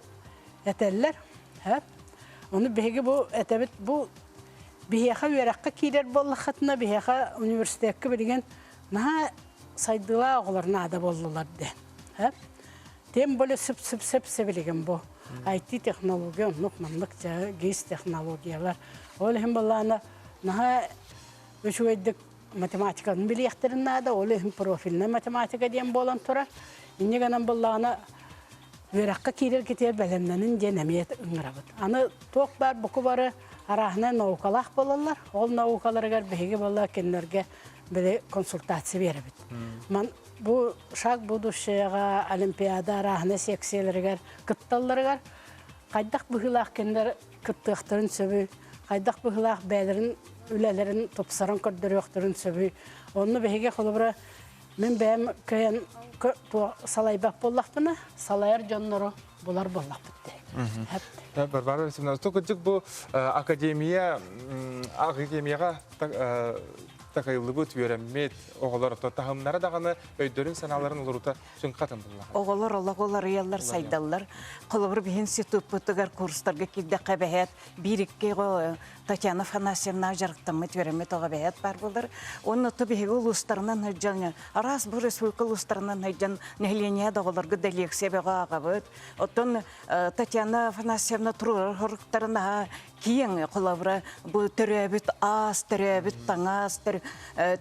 этэллэр. Ону биһиги бу этэбит бу биһиэхэ үөрэххэ киирэр буоллаххытына биһиэхэ университекка билигин наһаа сайдыылаах оҕолор наада буоллулар диэн. Тем более сып-сып-сып сибилигин бу IT-технология оннук маннык гис технологиялар. Ол иһин балаана наһаа үчүгэйдик математиканы билиэхтэрин наада, ол иһин профильная математика диэн буолан турар. Инньэ гынан быллаҕына үөрэххэ киирэргитигэр бэлэмнэниҥ диэн эмиэ ыҥырабыт. Аны туох баар буку бары арааһынай наукалаах буолаллар. Ол наукаларыгар биһиги буолла кинилэргэ били консультация биэрэбит. Ман бу шаг будущего олимпиада арааһынай секцияларыгар кытталларыгар хайдах быһыылаах кинилэр кыттыахтарын сөбүй, хайдах быһылаах бэйэлэрин үлэлэрин тупсаран көрдөрүөхтэрин сөбүй. Онну биһиги холобура мин бэйэм кыйан салайбат буоллахпына, салайар дьоннору булар буоллахпыт дии.
Барбара Васильевна, тук кырдьык бу академия академияга такайыллыбыт үөрэммит оҕолор таһымнара даҕаны өйдөрүн санааларын олорута Сүҥхэ атындыллар. Оҕолор олох уларыйаллар,
сайдаллар. Холобур, институппутугар курстарга киирдэххэ бэһээт биир-икки Татьяна Афанасьевнаҕа дьарыктаммыт үөрэммит оҕо бэһээт баар буолар. Уонна оту биһиги улуустарынан сылдьан, араас бу республика улуустарынан сылдьан нэһилиэнньэ да оҕолорго да лекция бөҕө аҕабыт. Оттон Татьяна Афанасьевна туруорар хоруктарын аһа киэҥ холобура бу төрөөбүт аас, төрөөбүт таҥаас,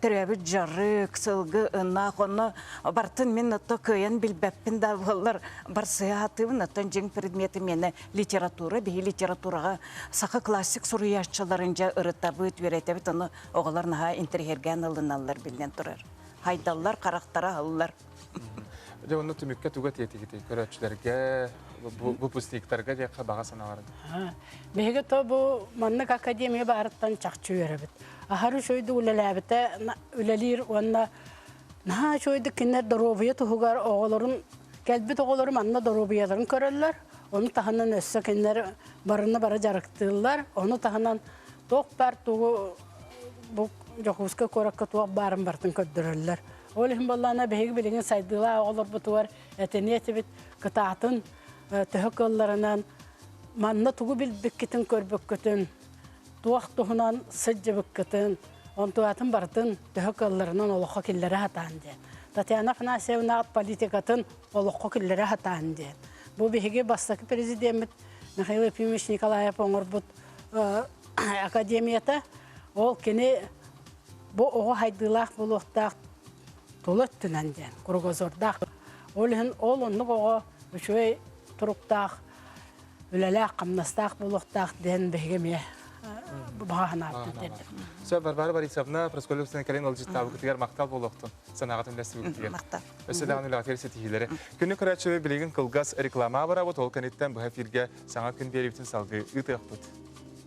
төрөөбүт дьарык, сылгы, ынах онно бартын мин ото кыайан билбэппин да буоллар барсыаатыбын оттон дьиҥ предмети миэнэ литература биһи литератураҕа саха классик суруйааччыларын дьэ ырытабыт үөрэтэбит ону оҕолор наһаа интэриһэргээн ылыналлар биллэн турар хайдаллар харахтара аһыллар Дьэ
онно түмүккэ туга тиэтигитий көрөөччүлэргэ выпускниктарга диэххэ баҕа санааларын. Биһиги
то бу маннык академия баарыттан чахчы үөрэбит. Аһары үчөйдүк үлэлээбитэ үлэлиир уонна наһаа үчөйдүк кинилэр доруобуйа туһугар оҕолорун кэлбит оҕолору манна доруобуйаларын көрөллөр. Ону таһынан өссө кинилэр барыны бары дьарыктыыллар. Ону таһынан туох баар тугу бу Дьокуускай куоракка туох баарын бартын көрдөрөллөр. Ол иһин буоллаҕына биһиги билигин сайдыылаах оҕолорбутугар этиниэ этибит кытаатын төһө кылларынан манна тугу билбиккитин көрбүккүтүн туох туһунан сылдьыбыккытын онтуатын барытын төһө кылларынан олоххо киллэрэ сатаан диэн татьяна афанасьевна политикатын олоххо киллэрэ сатаан диэн бу биһиги бастакы президеммит михаил епимович николаев оҥорбут академията ол кини Бу оҕо хайдыылаах буолуохтаах тула өттүнэн диэн кругозордаах. Ол иһин ол оннук оҕо үчүгэй туруктаах, үлэлээх-хамнастаах буолуохтаах диэн биһиги эмиэ баҕаһынааттан тиэрдим. Сөп Барбара
Борисовна, Проскольев Сына Калин Олжиттаабыкытыгар махтал буолуохтун санааҕытын үлэстэбиттигэр. Махтал. Өссө даҕаны
үлэҕитигэр
ситиһиилэри. Күнү көрөөччү билигин кылгас реклама абыраабыт, ол кэнниттэн быһа эфиргэ саҥа күн биэриибитин салгыы ыытыахпыт.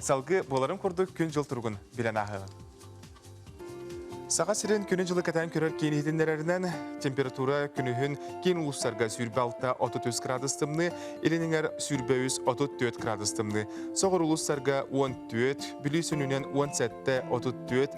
Салгы буоларын курдук күн-дьыл туругун билэн ааһыгын. Саха сирин күнү-дьылы кэтэн көрөр киин иһитиннэрэринэн, температура күнүһүн киин улуустарга сүүрбэ алта отут үс градус тымныы, илин иҥэр сүүрбэ үс отут түөрт градус тымныы, соҕур улуустарга он түөрт, бүлүү сүнүнэн он сэттэ отут түөрт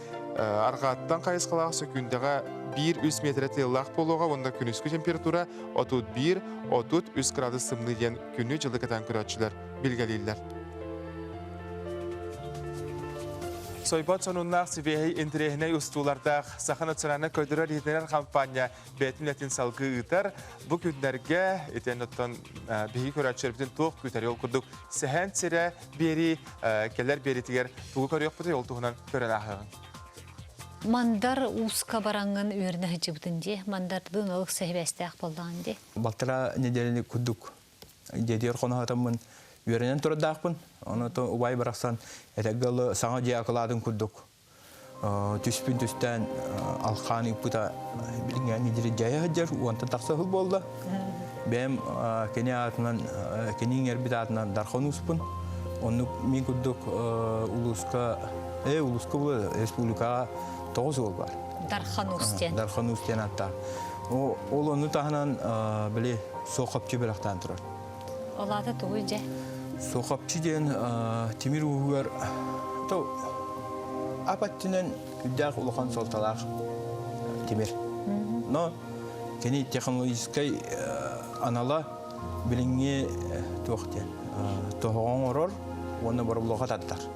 арҕааттан хайысхалаах сөкүүндэҕэ биир үс миэтэрэ тыаллаах буолуоҕа уонна күнүскү температура отут биир отут үс градус тымныы диэн күнү-дьылы кытаан көрөөччүлэр билгэлииллэр сойбот сонуннаах сибиэһэй интириэһинэй устуулардаах саха национальнай көрдөрөр иһитиннэрэр хампаанньа бэйэтин этин салгыы ыытар. Бу күннэргэ итиэн оттон биһиги көрөөччүлэрбитин туох күүтэрий ол курдук сэһэн сирэ биэрии кэлэр биэриитигэр тугу көрүөхпүтүй ол туһунан көрөн ааһыаҕыҥ.
Мандар ууска бараҥын үөрүнэ сылдьыбытын дии. Мандардын олох сэһибээстээх боллаҕын дии. Балтара неделяны
курдук дедиэр хоноһатаммын үөрэнэн турардаахпын. Ону то убай барахсан этэгге саҥа дьиэ акылаатын курдук түспүн түстээн алхаан ыппыта билиҥҥэ недели дьайа сылдьар уонтан тахса сыл буолла бэйэм кини аатынан кини иҥэрбит аатынан дархан успун оннук мин курдук улууска э улууска республикаҕа тоҕус уол бар дархан уус диэн
дархан уус диэн ааттаах
ол онну таһынан били суох хопчу бэлэхтээн турар Ол аата тугуй
дьэ? Сохапчы диэн
тимир ууһугар то ап өттүнэн үрдээх улахан суолталаах тимир. Но кини технологическай анала билиҥҥи туох диэн тоһоҕо оҥорор уонна боробулуоха тардар.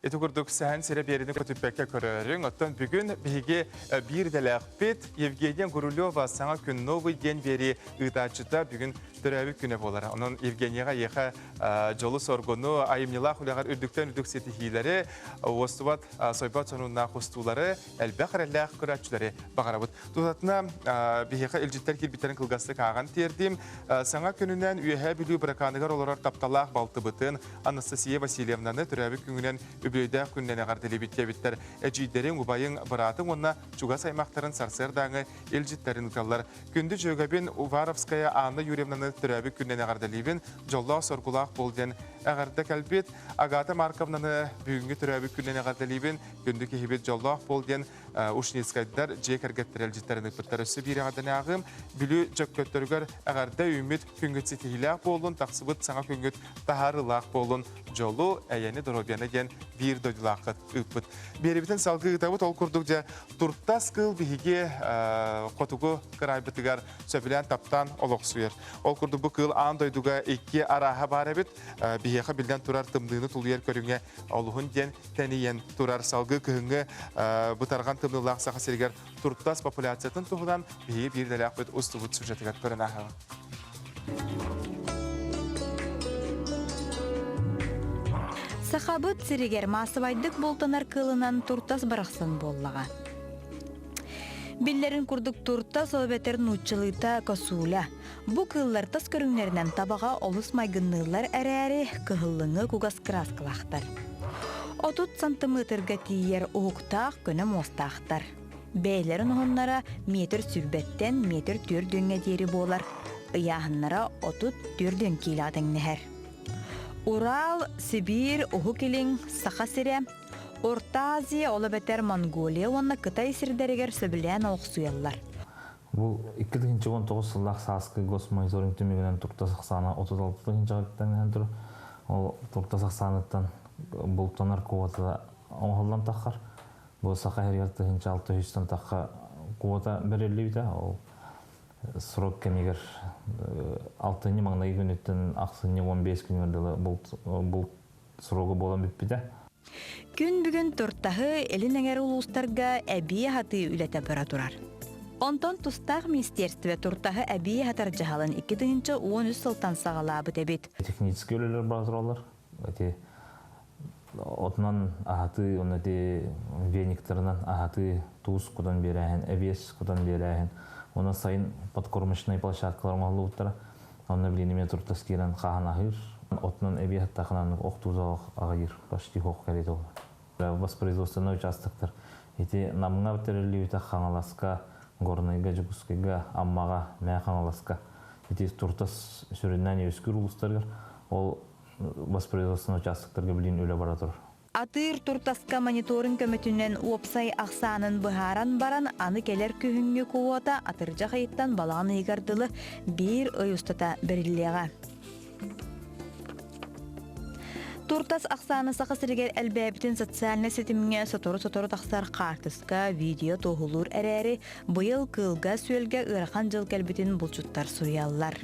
Ити курдук Сэһэн сирэ биэриини көтүппэккэ көрөрүҥ. Оттон бүгүн биһиги э, биир идэлээхпит Евгения Гурулева саҥа күн новый диэн биэрии ыытааччыта бүгүн төрөөбүт күнэ буолара. Онон Евгенияҕа эйиэхэ э, дьолу-соргуну, айымньылаах үлэҕэр үрдүктэн үрдүк ситиһиилэри, уостубат э, сойбот сонуннаах устуулары, элбэх эрэллээх көрөөччүлэри баҕарабыт. Тутатына биһиэхэ илдьиттэр киирбиттэрин кылгастык ааҕан тиэрдим. Саҥа күнүнэн Үөһээ Бүлүү быракааныгар олорор тапталаах балтыбытын, Анастасия Васильевнаны төрөөбүт күҥүнэн үбүлүөйдээх күнүнэн эҕэрдэлиибит диэбиттэр, эдьиийдэрин, убайын, быраатын уонна чугас аймахтарын сарсыардааҥы илдьиттэрин ыталлар. Күндү дьүөгэбин Уваровская Анна Юрьевнаны төрөөбүт күнүнэн эҕэрдэлиибин, дьоллоох-соргулаах буол диэн эҕэрдэ кэлбит. Агата Марковнаны бүгүҥҥү төрөөбүт күнүнэн эҕэрдэлиибин, күндү киһибит дьоллоох буол диэн Ушницкайдар дьиэ кэргэттэрэ илдьиттэрин ыппыттар өссө биирэҕэрдэнээҕи Бүлүү Дьөккөттөрүгэр эҕэрдэ үүммүт күҥҥүт ситиһиилээх буоллун, тахсыбыт саҥа күҥҥүт таһаарыылаах буоллун, дьолу, эйэни, доруобуйаны диэн биир дойдулааххыт ыыппыт. Биэрибитин салгыы ыытабыт ол курдук дьэ туртас кыыл биһиги хотугу кыраайбытыгар сөбүлээн таптаан олохсуйар. Ол курдук бу кыыл аан дойдуга икки арааһа баар эбит. Биһиэхэ биллэн турар тымныыны тулуйар көрүҥэ олуһун диэн тэнийэн турар. Салгыы күһүҥҥү бытарҕан тымныылаах Саха сиригэр туртас популяциятын туһунан биһиги биирдэлэөхпүт устубут сюжетыгар көрөн ааһаҕын.
Сахабыт сиригэр массабайдык бултанар кылынан туртас барахсан буоллаҕа. Биллэрин курдук туртас ол нууччалыыта косуля. Бу кыыллар тас көрүҥнэринэн табаҕа олус майгынныыллар эрээри, кыһыллыҥы кугас кырааскалаахтар. Отут сантыметрга тиийэр уһуктаах көнө муостаахтар. Бэйэлэрин оһоннора метр сүүрбэттэн метр түөрт дүҥҥэ диэри буолар. Ыйааһыннара отут түөрт дүҥ киилэҕэ тэҥнэһэр. Урал, Сибиир, Уһук Илин, Саха сирэ, Орта Азия, ол эбэтэр Монголия уонна Кытай сирдэригэр сөбүлээн олохсуйаллар. Бу
икки тыһыынча уон тоҕус сыллаах сааскы госмониторинг түмүгүнэн туртас ахсаана отут алта тыһыынчаҕыттан иһэн турар. Ол туртас ахсааныттан бултанар куотата оҥоһуллан таххар, бу Саха иһигэр тыһыынча алта үстэн тахха куота бэриллибитэ. Ол срок кэмигэр алтынньы маҥнайгы күнүттэн ахсынньы уон биэс күнүгэр дылы булт срогу буолан бүппүтэ. Күн
бүгүн Тортаһы илин эҥэр улуустарга эбии аһатыы үлэтэ бара турар. Онтон тустаах министерство Тортаһы эбии аһатар дьаһалын икки тыһыынча уон үс сылтан саҕалаабыт эбит. Техническэй үлэлэр бара
тураллар. Ити отунан аһатыы, уонна ити вениктарынан аһатыы туус кутан биэрээһин, эбиэс кутан биэрээһин, уонна сайын подкормочнай площадкалар оҥоһуллубуттара. Онно билин эмиэ туртас киирэн хааһын аһыыр. Отунан эбиэ хаттаахынан ох туузаҕа аҕайыр, почти ох кэлиит ол. Воспроизводственнай участоктар ити Намҥа битэриллибитэ Хаҥаласка, Горнайга, Дьокуускайга, Аммаҕа, Мэ Хаҥаласка ити туртас сүрүннээн үөскүүр улуустарыгар ол воспроизводственнай участоктарга билин үлэ бара турар. Атыыр туртаска
мониторинг көмөтүнэн уопсай ахсаанын быһааран баран, аны кэлэр күһүҥҥү квота атырдьах ыйыттан балаҕан ыйыгар дылы биир ый устата бэриллиэҕэ. Туртас ахсаана Саха сиригэр элбээбитин социальнай ситимҥэ сотору-сотору тахсар хаартыска, видео туоһулуур эрээри, быйыл кыылга-сүөлгэ ыарахан дьыл кэлбитин булчуттар суруйаллар.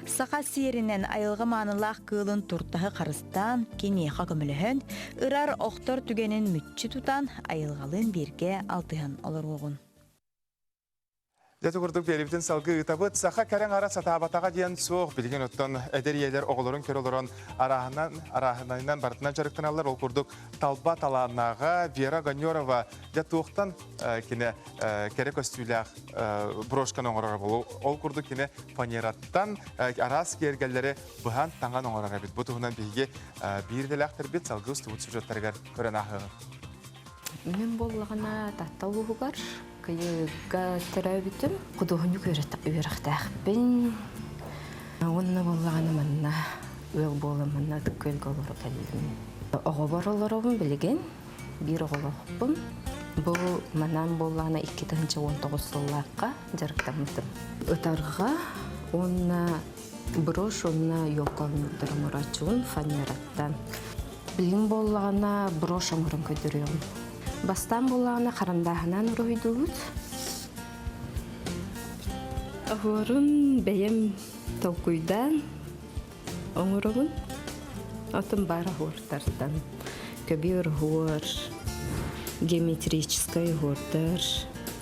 Саха сиэринэн айылҕа маанылаах кыылын туртаһы харыстыыр куттаан киниэхэ көмөлөһөн, ырар охтор түгэнин мүччү тутан айылҕалыын бииргэ алтыһан олоруоҕун.
Дьэ курдук биэрибитин салгыы ыытабыт. Саха кэрэҥ ара сатаабатаҕа диэн суох. Билигин оттон эдэр ийэлэр оҕолорун көрө олорон арааһынан, арааһынайынан барытынан дьарыктаналлар. Ол курдук талба талааннааҕа Вера Гонерова дьэ туохтан кинэ кэрэ көстүүлээх брошканы оҥорор. Ол курдук кинэ фанераттан араас киэргэллэри быһан, таҥан оҥорор эбит. Бу туһунан биһиги биир идэлээхтэрбит салгыы устубут сюжеттарыгар көрөн ааһыаҕыҥ.
Мен боллаҕына Татта улууһугар кыйыыга төрөөбүтүм худуоһунньук үөрэхтээхпин уонна боллаҕына манна ыал буолан манна ытык күөлгэ олоро кэллим оҕобор олоробун билигин биир оҕолоохпун бу манан буоллаҕына икки тыһыынча он тоҕус сыллаахха дьарыктаммытым ытарга уонна брошь уонна елка оҥордор оҥорооччубун фанераттан билигин буоллаҕына брошь оҥорон көрдөрүөҕүм бастаан буоллаҕына харандааһынан уруһуйдуубут оһуорун бэйэм толкуйдаан оҥоробун отун баар оһуортартан көбү оһуор геометрическай оһуордар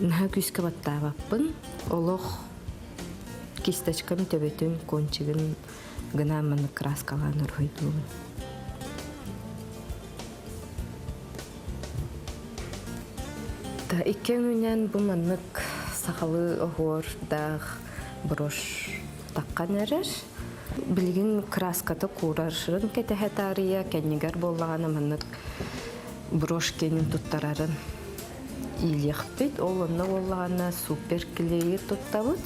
наһаа күүскэ баттаабаппын олох кисточкам төбөтүн кончигын гына маннык краскалаан орхойдуубун та икки өҥүнэн бу маннык сахалыы оһуордаах брошь таххан эрэр билигин краската куурарын кэтэһэ таарыйа кэннигэр буоллаҕына маннык брошкенин туттарарын иилиэхпит ол онно буоллаҕына супер клеер туттабыт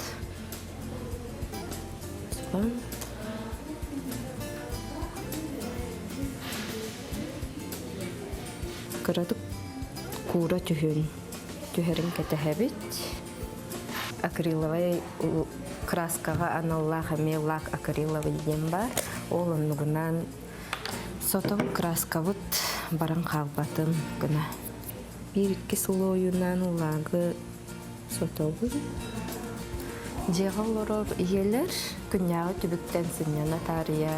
кыратык куура түһүн түһэрин кэтэһэбит акриловай краскаҕа аналлаах эмиэ лак акриловый диэн баар ол оннугунан сотон краскабыт баран хаалбатын гына биир икки сыл ойууннаан уулагы сотобун дьиэҕэ олорор ийэлэр күннээҕи түбүктэн сынньана таарыйа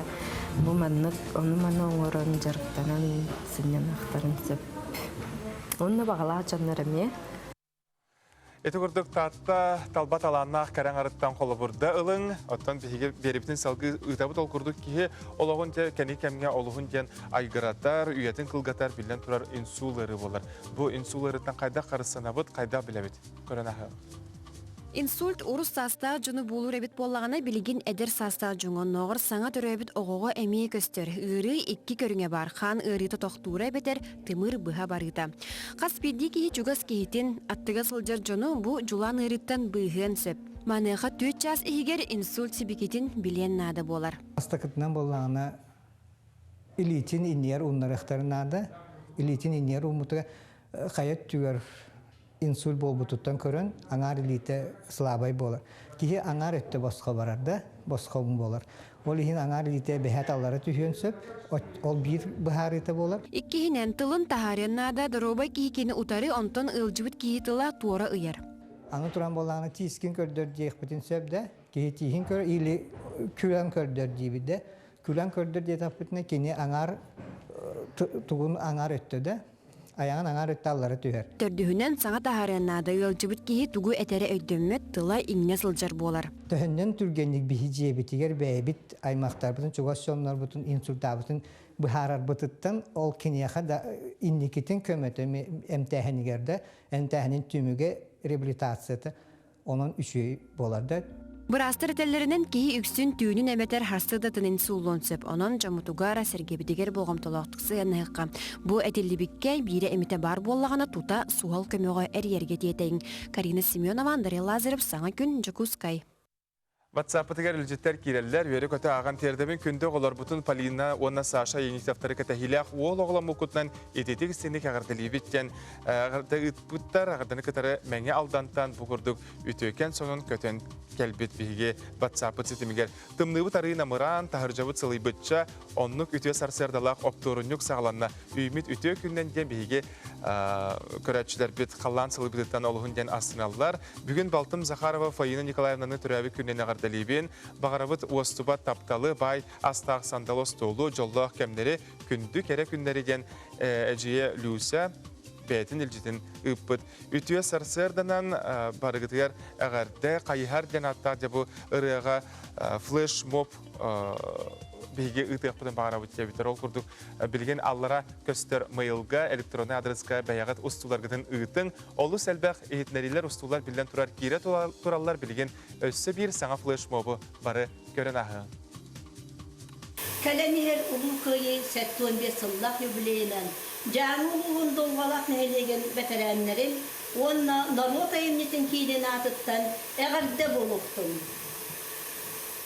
бу маннык ону маны оҥорон дьарыктанан сынньаныахтарын сөп онно баҕалаах дьоннор эмиэ
Ити курдук Таатта талба талааннаах кэрэҥ арыттан холобурда ылыҥ. Оттон биһиги биэрибитин салгыы ыытабыт ол курдук киһи олоҕун дьэ кэни кэмҥэ олуһун диэн айгыратар, үйэтин кылгатар, биллэн турар инсул ыарыы буолар. Бу инсул ыарыыттан хайдах харыстанабыт, хайдах билэбит? Көрөн аһыам. Инсульт
урус саастаах дьону буулуур эбит буоллаҕына, билигин эдэр саастаах дьоҥҥо оннооҕор саҥа төрөөбүт оҕоҕо эмиэ көстөр. Ыарыы икки көрүҥэ баар. Хаан ыарыыта тохтуура эбэтэр Тымыр быһа барыыта. Хас биирдии киһи чугас киһитин, аттыга сылдьар дьону бу дьулаан ыарыыттан быыһыан сөп. Маныаха түөрт чаас иһигэр инсульт сибикитин билиэн наада буолар. Бастакытынан буоллаҕына,
илиитин иннигэр ууннарыахтара наада. Илиитин иннигэр ууммутугар хайа өттүгэр инсульт буолбутуттан көрөн аҥаар илиитэ слабай буолар. Киһи аҥаар өттө босхо барар да, босхо уҥ буолар. Ол иһин аҥаар илиитэ бэһэт аллара түһүөн сөп, ол биир быһаарыыта буолар. Иккиһинэн, тылын
таһаарыан наада, доруобай киһи кини утары онтон ыалдьыбыт киһи тыла туора ыйар. Аны туран буоллаҕына
тиискин көрдөр диэхпитин сөп да, киһи тииһин көр или күлэн көрдөр диибит да, күлэн көрдөр диэтэхпитинэ кини аҥаар тугун аҥаар өттө да Аяңын аҥаар ытта аллара түһэр. Төрдүһүнэн, саҥа
таһаарыан наада, ыалдьыбыт киһи тугу этэрэ өйдөммөт, тыла-иҥнэ сылдьар буолар. Төһөннөн түргэнник
биһи дьиэбитигэр бэйэбит аймахтарбытын, чугас дьоннорбутун инсультаабытын быһаарарбытыттан ол киниэхэ да инникитин көмөтө эмтээһинигэр да эмтээһинин түмүгэ реабилитацията онон үчүгэй буолар да Быраастар
этэллэринэн, киһи үксүн түүнүн эбэтэр харсыардатынын сууллуон сөп. Онон дьоммутугар, сэргэбитигэр болҕомтолоохтук сыһыаннаһыахха. Бу этиллибиккэ биирэ эмитэ баар буоллаҕына, тута суһал көмөҕө эрийэргэ тиэтэйиҥ. Карина Семенова, Андрей Лазарев, саҥа күн, Дьокуускай. Ватсаппытыгар
илдьиттэр киирэллэр, үөрэ-көтө ааҕан тиэрдэбин күндү оҕолорбутун Полина уонна Саша Енисевтары кэтэһиилээх уол оҕоломмуккутунан ититик-синик эҕэрдэлиибит диэн ыыппыттар аҕарданы кытары Мэҥэ Алдантан бу курдук үтүөкэн сонун көтөн кэлбит биһиги ватсаппыт ситимигэр тымныыбыт арыы намыраан таһырдьабыт сылыйбычча оннук үтүө сарсыардалаах оптуорунньук саҕаланна үймит үтүө күннэн диэн биһиги көрөөччүлэрбит халлаан сылыйбытыттан олуһун диэн астыналлар Бүгүн балтым Захарова Фаина Николаевнаны төрөөбүт күнүнэн эҕэрдэлиибин, баҕарабыт уостубат тапталы, баай астаах сандал остуолу, дьоллоох кэмнэри, күндү кэрэ күннэри диэн эдьиийэ Люся бэйэтин илдьитин ыыппыт. Үтүө сарсыарданан барыгытыгар эҕэрдэ хайыһар диэн ааттаах дьабы ырыаҕа флешмоб биһиги ыытыахпытын баҕарабыт диэбиттэр ол курдук билигин аллара көстөр мыйылга электроннай адреска бэйэҕит устууларгытын ыытыҥ Олус элбэх иһитиннэриилэр-устуулар биллэн турар киирэ тураллар билигин өссө биир саҥа флешмобу бары көрөн ааһыҥ. Кэлэн
иһэр Улуу Кыайыы сэттэ уон биэс сыллаах юбилейынан Дьааҥы улууһун Дулҕалаах нэһилиэгин бэтэрээннэрин уонна норуот айымньытын киинин аатыттан эҕэрдэ буолуохтун!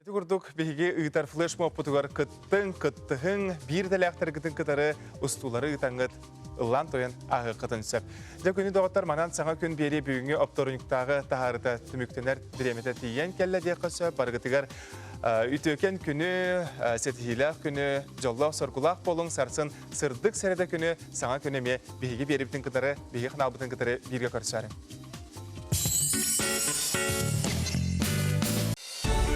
Ити курдук биһиги ыытар флешмобпутугар кыттыҥ, кыттыһыҥ, биир идэлээхтэргитин кытары устуулары ыытаҥҥыт ыллаан-туйан ааһыаххытын сөп. Дьэ күнү доҕоттор, манан саҥа күн биэриэ бүгүҥҥү опторунньуктааҕы таһаарыта түмүктэнэр бириэмэтэ тиийэн кэллэ диэххэ сөп. Барыгытыгар үтүөкэн күнү, ситиһиилээх күнү, дьоллоох-соргулаах буолуҥ, сарсын сырдык сэрэдэ күнү, саҥа күнү эмиэ биһиги биэрэбитин кытары, биһиги ханаалбытын кытары бииргэ көрсөөрүҥ.